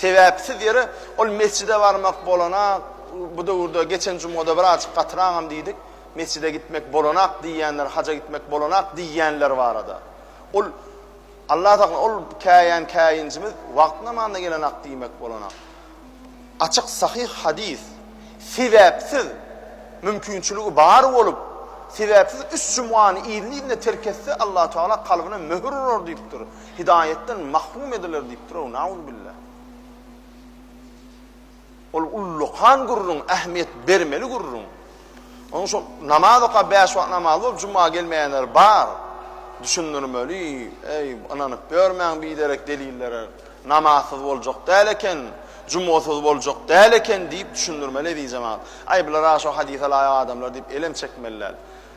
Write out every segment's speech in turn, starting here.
Sebäpsiz ýere ol mesjide barmak bolanak, bu döwürde geçen jumada bir azjyk gatyraňam diýdik, mesjide gitmek bolanak diýýänler, haja gitmek bolanak diýýänler barada. Ol Allah saklasyn, ol käýän käýinjimiz wagt namazynda gelenak diýmek bolanak. Açyk sahyh hadys, sebäpsiz mümkinçiligi bar bolup, sebäpsiz üç jumany yzly-yzyna terk etse, Allahu Teala kalbyna möhür urar diýipdir. Hidaýatdan mahrum ediler diýipdir-ow, nauzubilla. Ol ullakan gürrüň, ähmiýet bermeli gürrüň. Onuň şol namaz okap, bäş wagt namaz bolup, juma gelmeýänler bar. Düşündirmeli, eý, ynanyp ýörmäň biderek delillere. Namazsyz boljak däl eken, jumasyz boljak däl eken diýip düşündirmeli eziz jemagat. Aý, bular-a şo hadisa laýyk adamlar diýip elem çekmeli däl.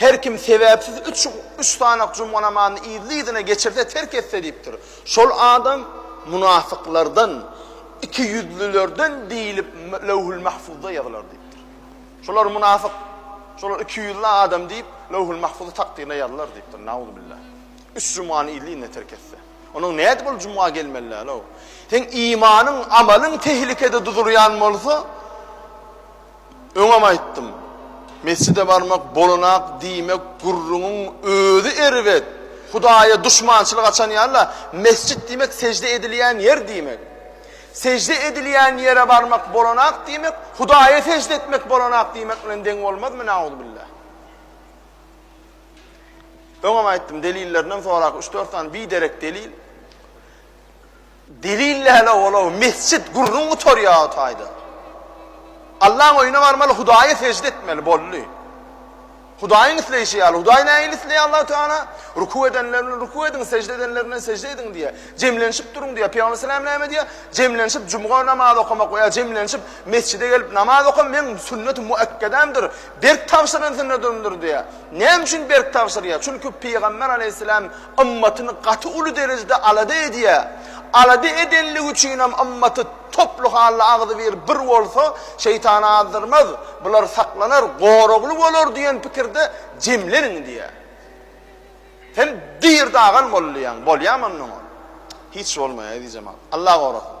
Her kim sebäpsiz üç üç sanak juma namazyny yzly-yzyna geçirse, terk etse diýipdir. Şol adam munafyklardan, ikiýüzlülerden diýlip Löwhül-Mahfuzda ýazylar diýipdir. Şolar munafyk, şolar ikiýüzli adam diýip, Löwhül-Mahfuzy takdyryna ýazylar diýipdir. Nauzubilla. Üç jumany yzly-yzyna terk etse. Onuň nädip ol juma gelmeli däl-ow? Seň imanyň, amalyň tehlikede duzulýan bolsa, Öňem aýtdym. Mesjide barmak bolanak diýmek gürrüňiň özi erbet. Hudaýa duşmançylyk açan ýaly-la, mesjit diýmek sežde edilýän ýer diýmek. Sežde edilýän ýere barmak bolanak diýmek Hudaýa sežde etmek bolanak diýmek bilen deň bolmazmy nauzbillah. Öňem aýtdym delillerinem sorak üç-dört sany biderek delil. Delil näle olaw mesjit gürrüň gutarýaga taýdan. Allaň öýüne barmaly Hudaýa sežde etmeli boldy. Hudaýyň isleýşi ýaly Hudaý nähili isleýär Allahu Teala? Ruku edenler bilen ruku ediň, sežde edenler bilen sežde ediň diýýär. Jemlenşip duruň diýýär. Pygamber salam näme diýýär? Jemlenşip jumga namazy okamak we ýa jemlenşip mesjide gelip namaz oka meň sünneti muekkedämdir, berk tabşyran sünnedimdir diýýär. Näme üçin berk tabşyrýar? Çünki Pygamber aleýhissalam ymmatyny gaty uly derejede alada edýär. Alada edenligi üçinem ymmaty toply halda agzybir bir bolsa, şeýtan azdyrmaz, bular saklanar, goragly bolar diýen pikirde jemleniň diýýär. Sen dyr dagan bolýaň, bolýamy onda oňa? Hiç bolmaýar, eziz jemagat. Allah gorasyn.